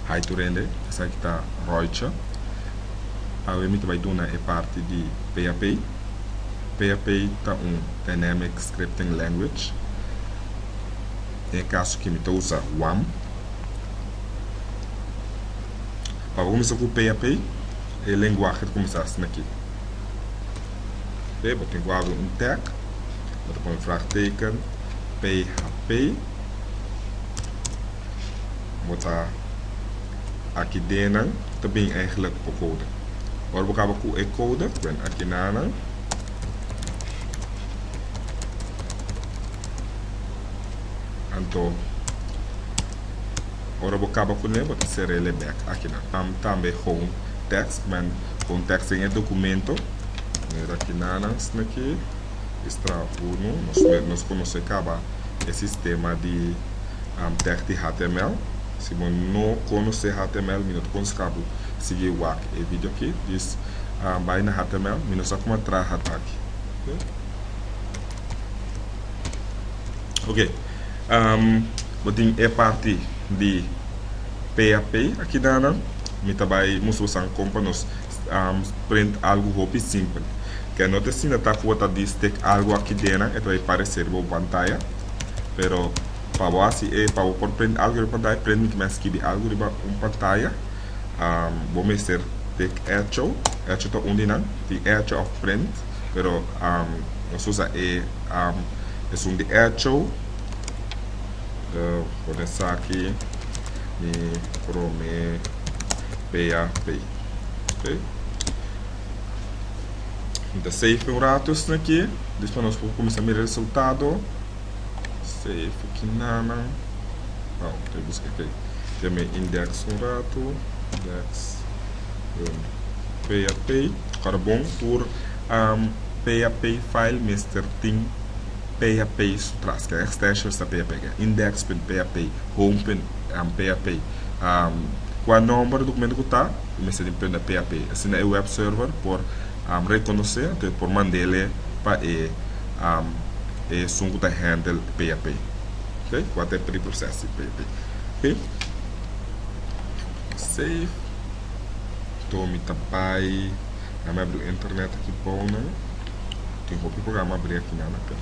Hai tur hende, esaki ta Royce. Awe mi ta bai duna e parti di PHP. PHP ta un dynamic scripting language. Den e kaso aki mi ta usa wam. Pa bo kuminsá ku PHP. e lenguahe ta kuminsá asina aki. Oke, bo tin ku habri un tag, bo ta pone vraagteken, php, bo ta aki den nan ta bini eigenlijk bo kode. Ora bo kaba ku e kode, bwen aki na nan, anto. Ora bo caba cune bo ta cerel e bek akinan. Ham tambe home text men home text den e documento. Manera kina nan snaki estra uno nos me nos conoce caba e sistema di text di html. Si bo no conoce html mi no ta conseha bo sigui wak e video aki. Just bay na html mi no sa como a traha ta aki. Ok, um, bo tin e parti di PAP aki nana. Mi ta bai musu bo san kompa nos um, print algo hopi simpel. Ke no te sina ta ku bo ta di stek algo aki dena, e ta bai pareser bo pantaya. Pero pa bo hasi e, pa bo por print algo riba pantaya, print mi ke mester skibi algo riba un pantaya. Um, bo mester take echo, echo ta un di nan, tin echo of print. Pero nos usa e esun di echo. Pone esaki mi prome pea pei. Ok. Mi ta save un rato esaki. Despues nos por cuminsa mira e resultado. Stay cu kinanan. Aw, ta busca aki. Tem e index un rato. Index. Boom. PHP, tocada bon tur PHP file mester tin PHP su tras. Ken extensions ta PHP aki? Index.php, Home.php. Cua nomber documento cu ta, e mester tin prenda PHP. Asina e web server por reconoce, anto e por manda ele pa e. e esun ku ta handle PAP. Oke, wak ta e preproses di PAP. Oke, save. Anto mi ta bai, a mi a bri internet aki bou nan. Tin hopi programa a bri aki nan, oke.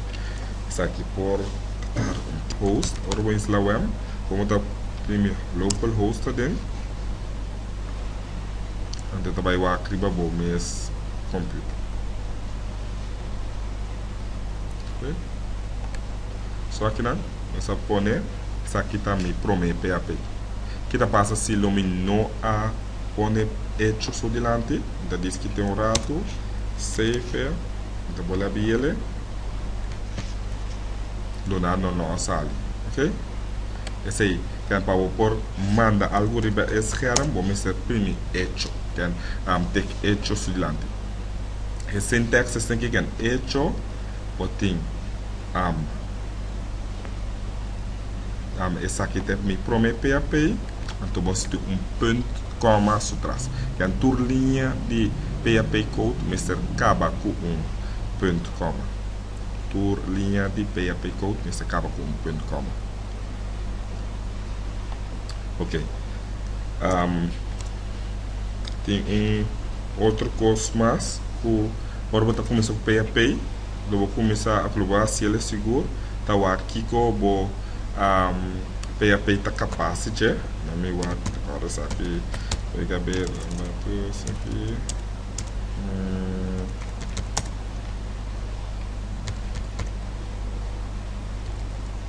Esaki por tar un host, ora bo instala wem, bo mos ta primi local host aden. Anto e ta bai wak riba bo mes computer. Oké. So akinan, nos a pone, esaki ta mi promé PAP. Ki ta pasa si lo mi no a pone echo so dilanti? Mi ta diskit'é un ratu, save-e, mi ta bole a bi'ele, duna no lo a sali. Oké. P'esei, ken pa bo por manda algu riba e skèrm, bo mester primi echo, ken take echo su dilanti. E sintaxis tin ki ken hecho o tin am. Dame esaki te mi prome php, anto bo situ un punt coma su tras. Ken tur liña di php code mester kaba ku un punt coma. Tur liña di php code mester kaba ku un punt coma. Ok. Um, tin un otro cos mas cu ora bo ta comienza cu pay a pay, lo bo comienza a lo bo haciel es sigur ta war kiko bo um, pay a pay ta capaz di dje. Na mi war ora esaki we ga ber datos aki. Mm,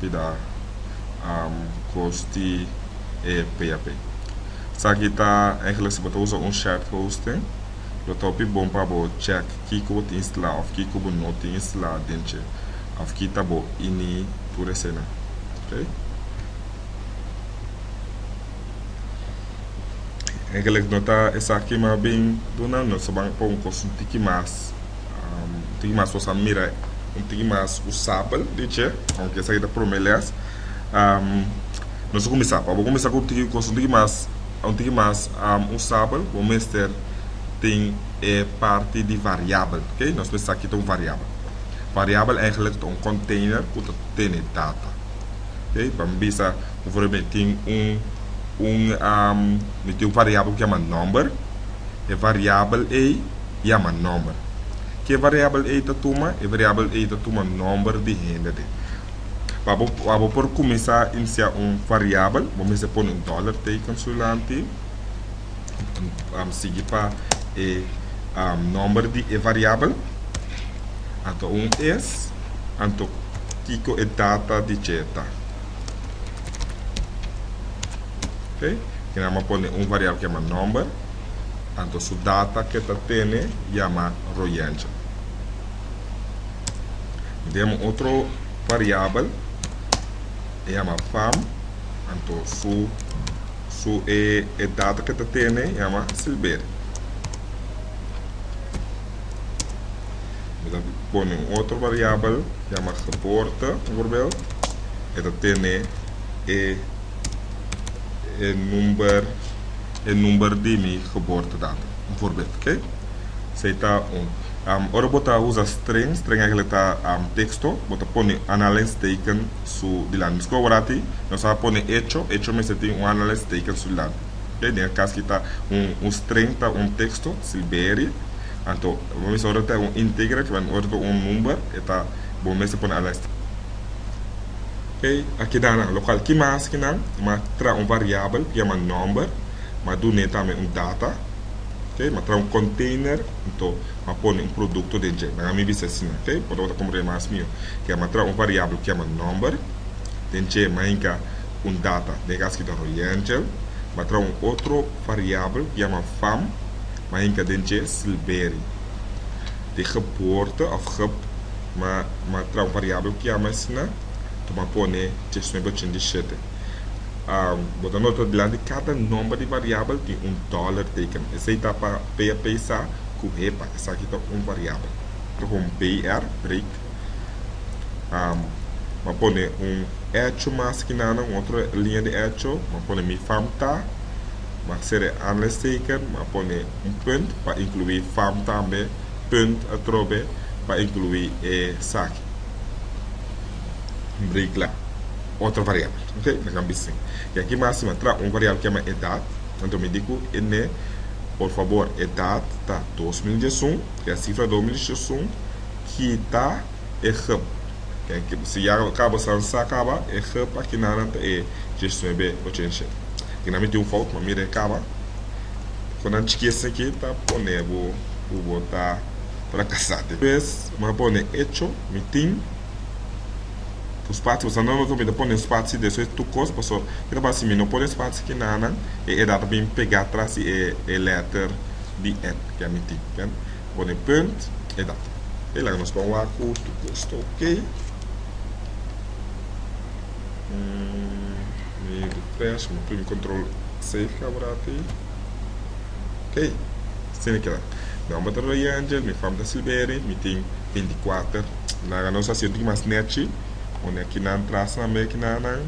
pida hosti e php. Esaki ta engeles bo ta usa un shared hosting, lo ta hopi bon pa bo check kiko bo tin instalá of kiko bo no tin instalá den dje of ki ta bo ini tur esena. Okay. Engeles no ta esaki, mas bien duna nos ta ban pa un kos un tiki mas. Un tigi mas nos a mira un tigi mas usabel di dje, aunke esaki ta prome les. Nos a kuminsá, pa bo kuminsá ku tigi kos un tigi mas un tigi mas usabel bo mester tin e parti di variabel, oke. Nos mester sa kita un variabel. Variabel eigenlijk ta un konteiner ku ta tene data, oke. Ban bisa ku for mi tin un un mi tin un variabel ku yama number, e variabel ei. yama nòmber. Ke variabel ei ta tuma? E variabel ei ta tuma nòmber di hende de. Pa bo pa bo por kuminsá inisiá un variabel, bo mester pone un dòler teken sulanti, sigui pa e nòmber di e variabel, anto un es, anto kiko e data di dje ta. Ke nan bo pone un variabel ke yama nòmber. Anto su data ke ta tene yama royentje. Mi tem un otro variabel e yama Pam, anto su su e e data ke ta tene yama Silberi. Mi ta pone un otro variabel yama Geboorte bijvoorbeeld e ta tene e e number. e number di mi geboortedatum. Un voorbeeld, oké? Sei ta un. Ora bo ta usa string, string eigenlijk ta texto, bo ta pone anhalingstekens su dilanti. Miskien bo wordati nos a pone hecho, hecho mester tin un anhalingstekens su dilanti. Oké? Den e kas aki ta un string ta un texto, Silberi. Anto bo mester ora ta un integer, ora ta un number, e ta bo mester pone anhalingstekens. Kei a keda nan lokal ki mas ki nan ma tra un variabel ku yama number ma dun'é tambe un data kei ma tra un konteiner nto ma pone un produkto den dje nan a mi bisa asina kei por tabata komprende mas mihó ke yama tra un variabel ku yama number den dje ma hinka un data den e kas aki ta royangel ma tra un otro variabel ku yama vam ma hinka den dje silberi di geboorte of geb ma ma tra un variabel ku yama asina. ta ba pone dje sueño pa chin di shete. Bo ta nota dilanti kada nomber di variabel tin un dollar teken. Esei ta pa pea pesa ku hepa. Esaki ta un variabel. Ta pon br, break. Bo a pone un echo mas aki nan, un otro linea di echo. Bo a pone mi fam ta. Bo a sere anleisteken. Bo a pone un punt pa inclui fam tambe, punt atrobe pa inclui esaki. Brikla, otro variabel, ok? Nan kan bisti. I aki Maxima traha un variabel ke yama edat. Anto mi di ku e ne, por fabor, edat ta dos mil diesun, ke a sifra dos mil diesun, kita e hub. Si ya ka bo sa sa kaba, e hub aki naran ta e diesnuebe ocha i shete. Aki nan miti un fout, ma mira e kaba. Kon nan chikis aki ta pone bo ku bo ta fracasate. Mi ta pone echo mi tin ku spatsi pasobra no loke mi ta pone spatsi den su e tur kos paso e ta basa si mi no pone spatsi ki nanan e edad ta bin pega tras di e letter di en ke a mi tin mi pone punt edad e laga nos kon wak ku tur kos ta ok mi refresh mi prim control save kabarat ok. Seneca, Mi nomber ta Roy Angel, mi fam ta Silberi, mi tin veinticuater. Nan a nos a siente ki mas nechi, un e ki nan tras nan me ki na nan.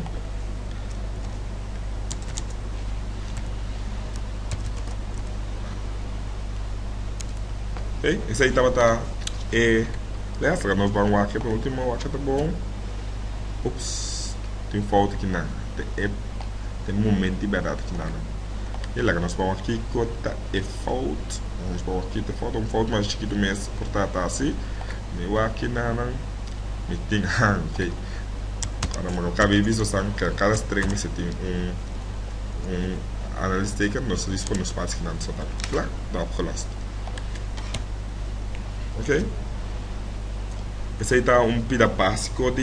Oké, esei tabata e les a nos ban wak e pe ultimo wak ta bon. Ups, tin fout ki nan te e te momenti berdad ki nan. Oké, laga nos ban wak kiko ta E fout, nos por a kita e fout, ta un fout mas chikito mes por ta ta así, mi wak nanan, mi tin han ke, cuando mi no caba e biso san ke cada string mester tin un un análisis teken nos listo pa nos patio nan so ta plak ta opgelost. Oké, esei ta un pida básico.